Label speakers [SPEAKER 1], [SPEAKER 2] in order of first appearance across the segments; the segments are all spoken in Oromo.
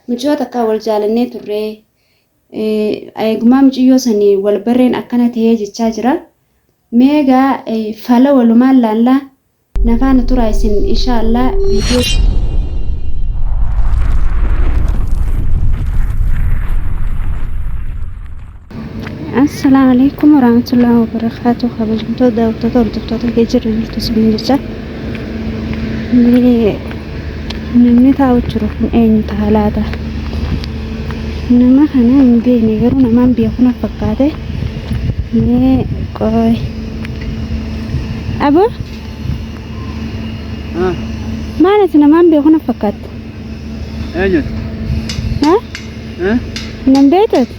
[SPEAKER 1] Miciyoo takkaa wal jaalannee turre. Eegumaa miciyyoo sani wal barreen akkana ta'ee jechaa jira. Mee egaa fala walumaan laallaa na faana turaa isin inshaa Allah viidiyoo. Assalaamu alaikum warahmatullahi wabarakatuh kabajamtoota daawwattoota hordoftoota kee jirra jirtu isin jecha Mee namni taa'u jiru kun eenyu ta'a laata nama kana hin beekne garuu namaan biyya kana fakkaate mee qoy abo Ah, maal ati namaan biyya kana fakkaatte
[SPEAKER 2] eenyuti? ha Eh?
[SPEAKER 1] nan beektu ati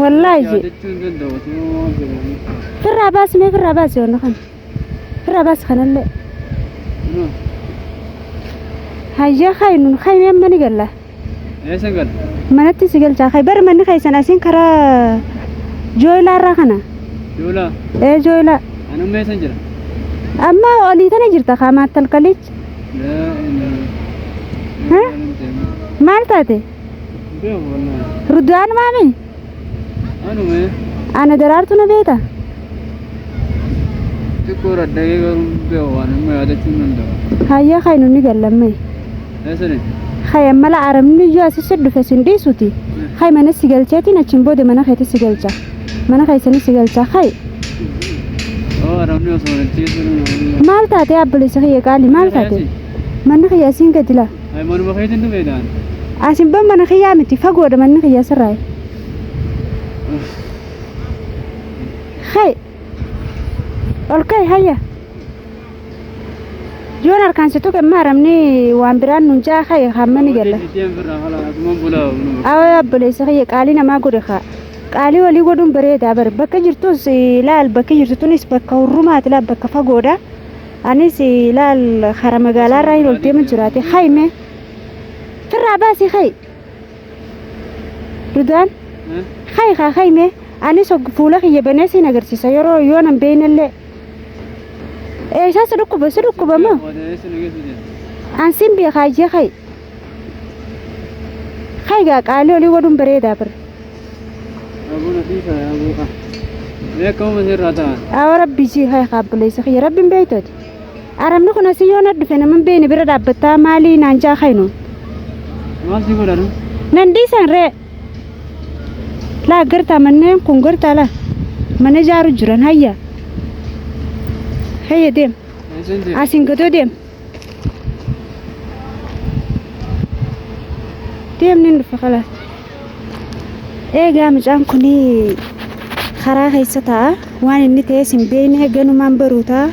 [SPEAKER 2] Wallaahi.
[SPEAKER 1] Yaadachuu hin danda'u
[SPEAKER 2] osoo waan jedhamu. Firraa baasi
[SPEAKER 1] mee firraa baasi wanna kana. Firraa baasi kanallee. Hayyaa kaayi nun kaayi mee amma ni galla. Eessa gala?
[SPEAKER 2] Manatti si galchaa
[SPEAKER 1] kaayi bari manni keessan asiin karaa jooylaa irraa kana. Joolaa.
[SPEAKER 2] Ee jooylaa.
[SPEAKER 1] Ani amma eessan jira?
[SPEAKER 2] Amma
[SPEAKER 1] olii tana jirta kaa maattalkalichi. Yaa inni. Hä? Maal taate? Beeku
[SPEAKER 2] bannaa. Rudwaan maami? Anuma Ana
[SPEAKER 1] daraartu na beeta?
[SPEAKER 2] xiqqoo raddagee garuu beeku waan amma yaadachuu hin danda'u. Hayya kan inni gallamme.
[SPEAKER 1] Eessani?
[SPEAKER 2] Hay ammala
[SPEAKER 1] aramni iyyuu asirra dhufe sin dhiisuti. Hay mana si galcheetiin achiin booda mana keetti si galcha. Mana keessanii si galcha. Hay
[SPEAKER 2] Oo aramni osoo walitti eessuun. maal taate abboleessa
[SPEAKER 1] kiyya qaali maal taate? Manni kiyya asiin gadi laa. Ay manuma keetiin
[SPEAKER 2] dhufe daan. Asin ban mana
[SPEAKER 1] kiyyaa miti fagoodha manni kiyyaa sirraa. Hay. Ol kai hayya. Yoon harkaan si tuqe maaramni waan biraan nun jaa kai hammani galla. Deem birraa hala asumaan bulaa manuma. Awaa obboleessa kiyya qaalii namaa godhe kaa. Qaalii walii godhuun bareedaa bare bakka jirtus eh, laal bakki jirtu tunis bakka hurrumaati laal bakka fagoodha. Anis laal karaa magaalaa irraa hin ol deema jiraate hayi mee firraa baasii hayi dudaan hayi haa hayi mee anis og fuula kiyya banee siin agarsiisa yeroo yoo nan beeynellee eessaa si dhukkuba si dhukkuba moo Odeessi nu geessu jedhu. an siin beekaa iyyee hayi Haa egaa qaalii olii godhuun bareedaa bar. Aboo
[SPEAKER 2] na sii faya aboo kaa. Mee akka uuma sirraa ta'an. Awa rabbii sii haa
[SPEAKER 1] egaa obboleessa kiyya rabbiin beektooti. Arabni kun asii yoo na dhufe nama hin beekne bira dhaabbattaa maalii naan jaa kainu. Maal
[SPEAKER 2] si godha nu? Nan dhiisan ree.
[SPEAKER 1] Laa gartaa manneen kun gartaa laa. Mana ijaaru jiran hayya. Hayya deem. Eessan deema? Asiin gadoo deem. deemni hin dhufa kalaas eegaa mucaan kun karaa keessa ta'a waan inni ta'es hin beekne ganumaan baruu ta'a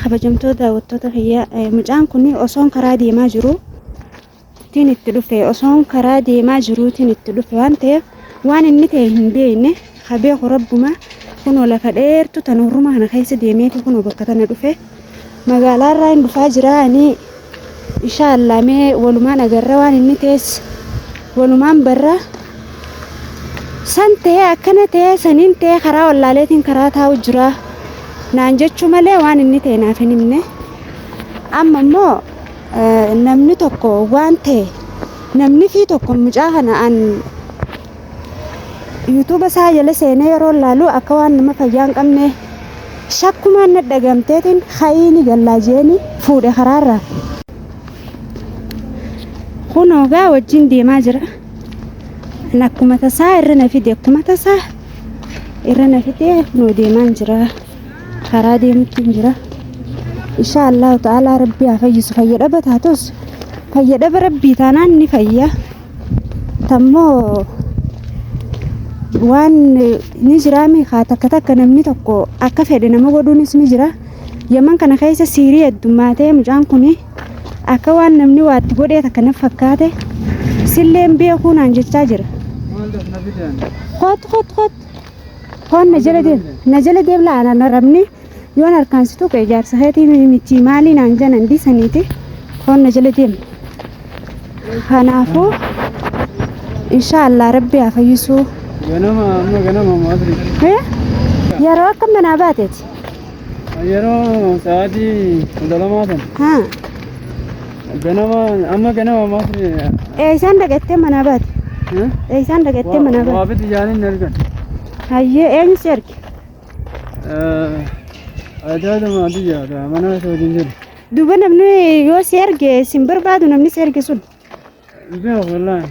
[SPEAKER 1] kabajamtoota daawwattoota kiyyaa mucaan kun osoon karaa deemaa jiru tiin itti dhufe osoon karaa deemaa jiruutiin itti dhufe waan ta'eef waan inni ta'e hin beekne ha beeku rabbuma kunoo lafa dheertu tan hurruma kana keessa deemeeti kunoo bakka tana dhufe magaalaa irraa hin dhufaa jira ani insha Allah mee walumaan agarra waan inni ta'es walumaan barra san ta'e akkana ta'e saniin ta'e karaa wallaaleetiin karaa taa'u jira naan jechuu malee waan inni ta'e naaf hin himne amma immoo namni tokko waan ta'e namni fi tokko mucaa kana an yuutuuba isaa jala seenee yeroo laalu akka waan nama fayyaa hin qabne shakkumaan na dhagamteetiin ha'iini gallaa jeeni fuudhe karaarra. Kun ogaa wajjin deemaa jira. An akkuma tasaa irra na fide akkuma tasaa irra na fide kunoo deemaan jira. karaa deemutti hin jira insha allahu ta'aalaa rabbii haa fayyisu fayya dhaba taatus fayya dhaba rabbii taanaan ni fayya tammoo waan ni jiraami haa takka takka namni tokko akka fedhe nama godhuunis ni jira yaman kana keessa siirii heddummaatee mucaan kun akka waan namni waatti godhee takka naf fakkaate silleen beekuu naan jechaa jira. Kot kot kot. Foon na jala deem na jala deem laa na narabni yoon harkaan si tuqe jaarsa keetii michii maalii naan janan dhiisaniiti foon na jala deem. Kanaafuu inshaallah rabbi haa fayyisuu. Ganama amma
[SPEAKER 2] ganama maasri.
[SPEAKER 1] Yeroo akka manaa baateeti. Yeroo
[SPEAKER 2] sa'aatii kudha lamaa sana Haa.
[SPEAKER 1] ganama
[SPEAKER 2] amma ganama maaf Eeysaan dhagattee
[SPEAKER 1] manaa baate. Eeysaan dhagattee manaa baate. waabiti jaaniin hin argan.
[SPEAKER 2] Hayyee
[SPEAKER 1] eenyu si arge?
[SPEAKER 2] Aadaa lama biyya mana isa wajjin jiru. Duuba namni
[SPEAKER 1] yoo si arge sin barbaadu namni si arge sun. Beeku
[SPEAKER 2] wallahi.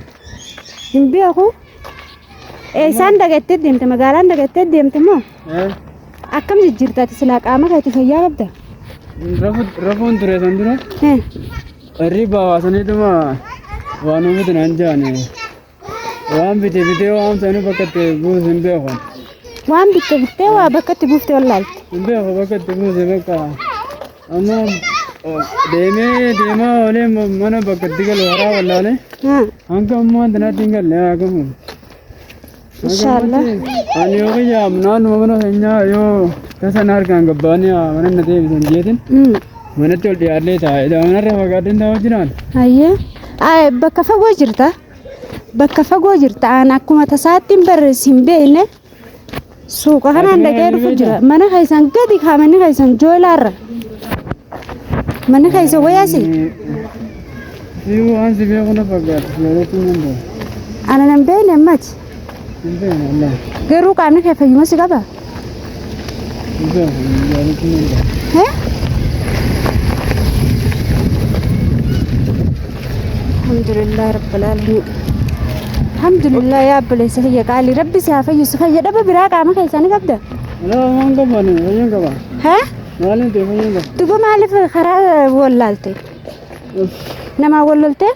[SPEAKER 2] Hin
[SPEAKER 1] beeku. Eessaan dagattee deemte magaalaan dagattee deemte moo Eh, akkam jijjiirtaati silaa qaama keetti fayyaa qabda. rafu-
[SPEAKER 2] rafuun ture kan dura Eh, qarrii baawaasanituma waan uummatni naan jaane Waan bite bitee waan sanu bakka itti buusu hin beeku. Waan bitte
[SPEAKER 1] bittee waa bakka itti buuftee wallaalte. Hin beeku bakka itti
[SPEAKER 2] buuse bakka. Amma oh, deemee deemaa oolee ma- mana bakka itti galu waraa wallaalee. Haa. Hanga ammaa tanatti hin galle haa gamu. Inshaallah.
[SPEAKER 1] Ani
[SPEAKER 2] yoo kiyyaam naannuma mana keenyaa yoo tasa na harkaan gabbaanii haa mana na deebisan jeetin. Mm. Manatti ol dhiyaadhee taa'e. Daa'immanarra fagaadheen taa'aa jiraan. Hayyee. Ay,
[SPEAKER 1] Bakka fagoo jirta. Bakka fagoo jirta. Aan akkuma tasaatti hin barreessi hin beekne. Suuqa kanaan dhaqee dhufu jira. Mana keessan gadi kaa manni keessan joolaarra. Manni keessan wayaasi. Sii
[SPEAKER 2] waan si beeku na fakkaata. Jaalachuu nan beeku. Ana nan beekne
[SPEAKER 1] ammati. Hin beekne
[SPEAKER 2] Allah. Garuu qaamni kee
[SPEAKER 1] fayyuma si qaba.
[SPEAKER 2] Alhamdulillah
[SPEAKER 1] rabbil alamin. Alhamdulillah yaa obboleessa kiyya qaali rabbi si haa fayyisu fayya dhaba biraa qaama keessaa ni qabda. Waan qabaan
[SPEAKER 2] fayyaan qaba. Haa? Maaliin ta'e fayyaan qaba. Duba maaliif karaa
[SPEAKER 1] wallaalte? Namaa walloltee?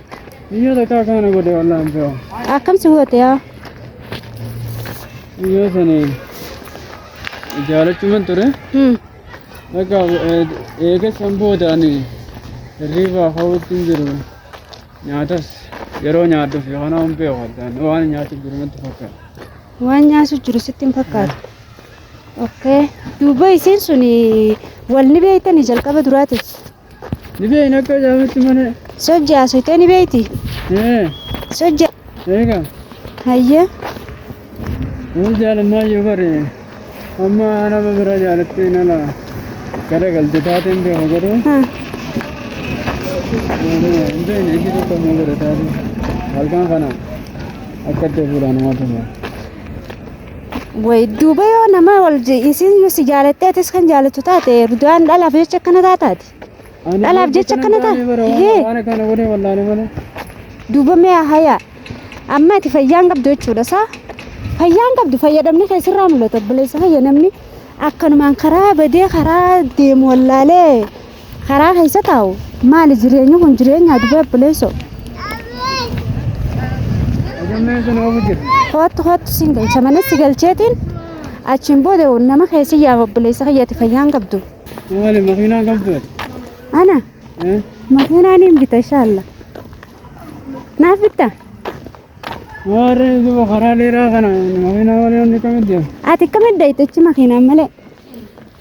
[SPEAKER 1] Iyyo takka
[SPEAKER 2] akana godhe wallahi hin beeku. Akkam si goote
[SPEAKER 1] yaa?
[SPEAKER 2] Iyyo sani jaalachuman ture. Hmm. Bakka eega san booda ani hirriibaa hawwitti hin jiru. Nyaatas yeroo nyaadhuuf yookaan hin beeku addaan waan nyaatu jiru natti fakkaata. Waan nyaasu
[SPEAKER 1] jiru sitti hin fakkaatu. Okay. Duuba isiin sun wal ni beektanii jalqaba duraatiif. Ni
[SPEAKER 2] beekna akka jaamutti mana. Sojja haasofte ni
[SPEAKER 1] beekti. Ee, Sojja. eega.
[SPEAKER 2] Hayyee. Inni jaalammaa yoo bare amma nama bira jaalattee nala garagalte taateen beeku garuu Ha. hin beekne ishii tokko immoo godhe taate halkan kana akka itti fuudhaan nama tumu.
[SPEAKER 1] Way duuba yoo nama wal isiin yoo si jaalattee atis kan jaalattu taate dudaan dhalaaf jecha akkana taataati. Dhalaaf jecha akkana taate. Waan akkana godhee
[SPEAKER 2] wallaale malee. Duuba mee
[SPEAKER 1] hayaa. Amma ati fayyaan qabdu jechuudha saa. Fayyaan qabdu fayyadamni keessirraa mul'ata obboleessa fayya namni akkanumaan karaa badee karaa deemu wallaalee Karaa keessa taa'u maali jireenyi kun jireenyaa dubee obboleessoo. Hoottu hoottu siin galcha mana si galcheetiin achiin booda nama keessa yaa obboleessa kiyyaati fayyaan qabdu. Maali makiinaa
[SPEAKER 2] qabdu? Ana
[SPEAKER 1] makiinaa niin bita inshaalla. Naaf bitta?
[SPEAKER 2] Warri duuba karaa dheeraa kana makiinaa malee hundi kamitti deema? Ati akkamitti dayitechi
[SPEAKER 1] makiinaan malee?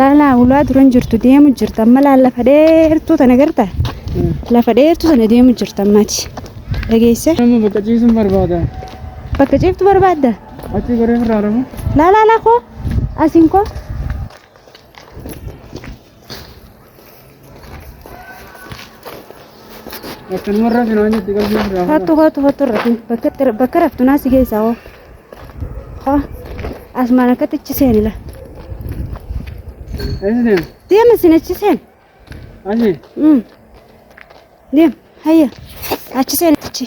[SPEAKER 2] Laalaa ulaa duran jirtu deemu jirta amma laal lafa dheertuu tana garta lafa dheertuu tana deemu jirta ammati dhageesse Amma bakka ciisuun barbaada. bakka ciiftu
[SPEAKER 1] barbaadda Achi goree irraa
[SPEAKER 2] rafu. laalaa laa koo
[SPEAKER 1] asiin koo
[SPEAKER 2] Akkanumarraa finaan jetti qalbii irraa. Hattu hattu hattu irratti
[SPEAKER 1] bakka itti- bakka raftu naa si geessaa hoo. Hoo asmaan akkatti achi seeni la.
[SPEAKER 2] Eessi deema? Deema sin achi seeni.
[SPEAKER 1] Achi.
[SPEAKER 2] Mm.
[SPEAKER 1] Deema hayya achi seeni achi.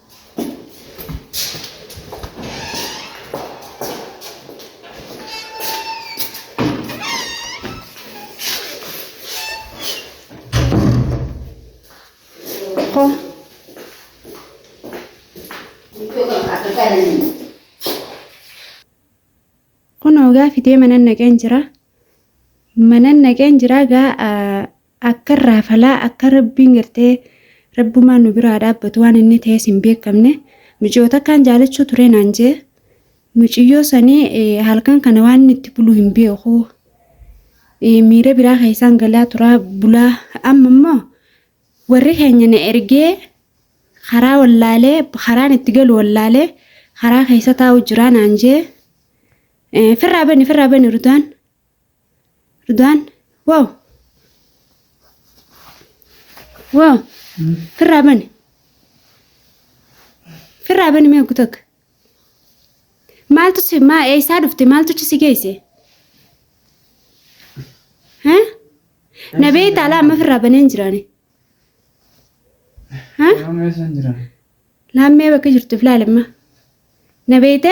[SPEAKER 1] Hoo. Kun hoogaa fidee manan naqeen jira. Manan naqeen jira gaa Akkan raafalaa akka rabbiin gartee rabbumaan nu biraa dhaabbatu waan inni ta'es hin beekamne muciyoota akkaan jaalachuu turee naan jee muciyyoo sanii halkan kana waan inni itti bulu hin beeku miira biraa keessaan galaa turaa bulaa amma immoo warri keenya na ergee karaa wallaalee karaan itti galu wallaalee karaa keessa taa'u jiraa naan jee firraa bani firraa bani rutaan. Ridwaan waaw waaw firraa bani firraa bani mee oggu takka maaltu si maa eessaa dhufte maaltu si geesse ha na beektaa laa amma firraa baneen jiraane ha Amma eessan jira? laammee bakka jirtuuf laalamma na beekte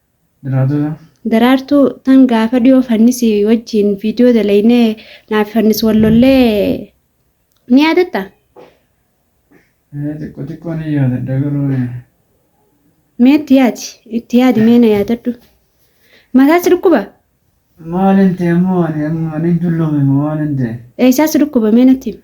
[SPEAKER 2] Daraartuu
[SPEAKER 1] tan gaafa dhiyoo fannisi wajjiin viidiyoo dalaynee naaf fannis wal lollee ni yaadatta?
[SPEAKER 2] Xiqqoo xiqqoo ni yaadadha garuu.
[SPEAKER 1] Mee itti yaadi itti yaadi mee na yaadadhu. Mataa si dhukkuba? Maalin
[SPEAKER 2] ta'e ammoo ani amma ni dulloome moo maalin ta'e? Eessaa si dhukkuba mee
[SPEAKER 1] natti himi?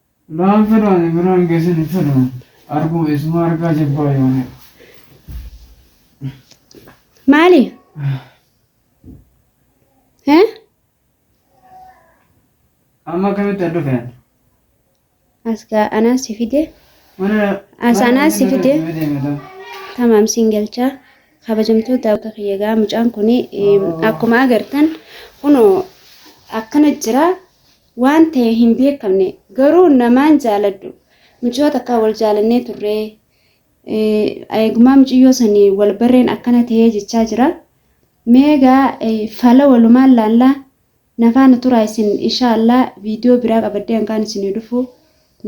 [SPEAKER 1] Naan
[SPEAKER 2] fedhaani biraan geessan hin fedhu arguu eessumaa argaa jibbaa yoonii.
[SPEAKER 1] Maali? Hee?
[SPEAKER 2] Amma akkamitti adda fe'an?
[SPEAKER 1] Asgaa anaa si fide Mana As anaa si fide. deemata. tamaam siin galchaa kabajamtoota akka kiyya gaa mucaan kun akkuma agartan kunoo akkana jira Waan ta'e hin beekamne garuu namaan jaaladhu muciyoo takkaa wal jaalannee turree eegumaa muciyyoo sani wal barreen akkana ta'ee jechaa jira mee egaa fala walumaan laallaa na faana turaa isin inshaa Allah viidiyoo biraa qabaddee hangaan isinii dhufu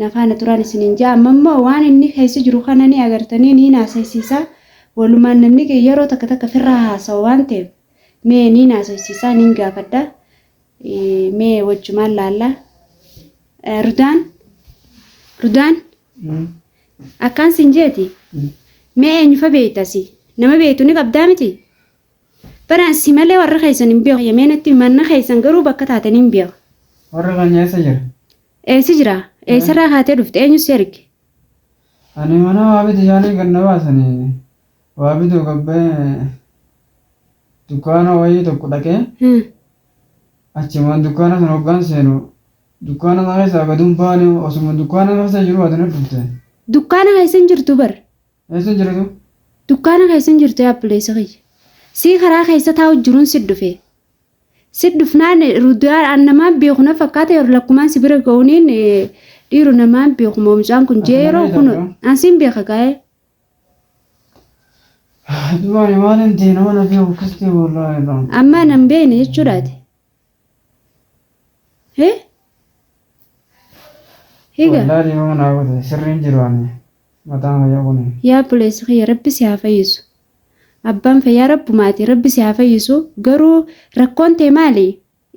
[SPEAKER 1] na faana turaan isiniin ja'a amma immoo waan inni keessa jiru kana ni agartanii niin haasaysiisaa walumaan namni yeroo takka takka firraa haasawa waan ta'eef mee niin haasaysiisaa niin gaafadha mee wajjumaan laallaa Eh, rudaan rudaan akkaan sin jeeti mee eenyufa beektasi nama beektu ni qabdaa miti baraan si malee warra keessan hin beeku yemee natti manna keessan garuu bakka taatan hin beeku Warra kan nyaasa
[SPEAKER 2] jira. eessa jira
[SPEAKER 1] eessarraa kaatee dhufte eenyu si erge Ani
[SPEAKER 2] mana waamiti yaanii ganna baasanii. Waa bituuf abbee dukkaana wayii tokko dhaqee achumaan dukkaana sana hoggaan seenu dukkaana sana keessaa gad hin baane osuma dukkaana keessa jiru ati na dhufte. Dukkaana keessa
[SPEAKER 1] hin jirtu bar. Eessa hin jirtu?
[SPEAKER 2] Dukkaana keessa
[SPEAKER 1] hin jirtu yaa obboleessa kiyya. Sii karaa keessa taa'u jiruun si dhufee. Si dhufnaan ruudiyaan an namaan beeku na fakkaata yeroo lakkumaan si bira ga'uuniin dhiiru namaan beeku moo mucaan kun jee yeroo kun an siin beeka gaa'ee.
[SPEAKER 2] Dubaani maalin ta'e nama na fi'u kistee bollaa irraa. Ammaa nan beekne
[SPEAKER 1] jechuudhaati. Hee? Higa. Wallaa dhiifama naa
[SPEAKER 2] godhe sirriin jiru ani mataan fayyaa kuni. Yaa obboleessa kiyya rabbi
[SPEAKER 1] si haa fayyisu. Abbaan fayyaa rabbumaati rabbi si haa fayyisu garuu rakkoon tee maali?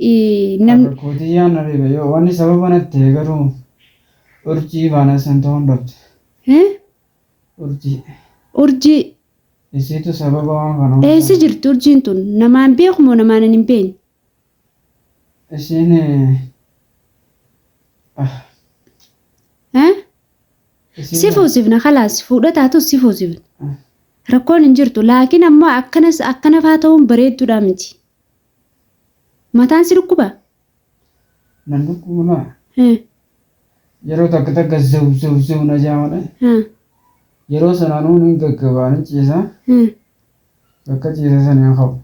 [SPEAKER 1] Ii, Nam
[SPEAKER 2] Rakkootiyyaa na dhibe yoo wanni sababa natti ta'e garuu urjii baana san ta'uun dhabde. Hee? Urjii.
[SPEAKER 1] Urjii. Isiitu
[SPEAKER 2] sababa waan kana hundaa. Eessa jirti urjiin
[SPEAKER 1] tun? Namaan beeku moo namaan ani hin beekne? Isiin.
[SPEAKER 2] Ah.
[SPEAKER 1] Eh? Isiin. Si fuusifna kalaas fuudha taatus si fuusifna. Ah. Rakkoon hin jirtu laakiin ammoo akkanas akkanafaa ta'uun bareedduudhaa miti. Mataan si dhukkubaa?
[SPEAKER 2] Nan dhukkuba naa. Hee. Yeroo takka takka zaw zaw zaw na jaa malee. Haa. Yeroo sana anuu nin gaggabaa nin ciisa. Hee. Bakka ciise sana hin ka'u.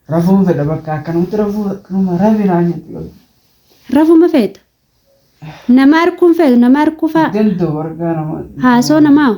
[SPEAKER 2] Rafuun fedha bakka akkanumatti rafuu akkanuma rafi naan jetti bakka. Rafuma
[SPEAKER 1] feeta. Nama arguun feetu nama arguu faa. Danda'u argaa nama.
[SPEAKER 2] Haasoo namaa.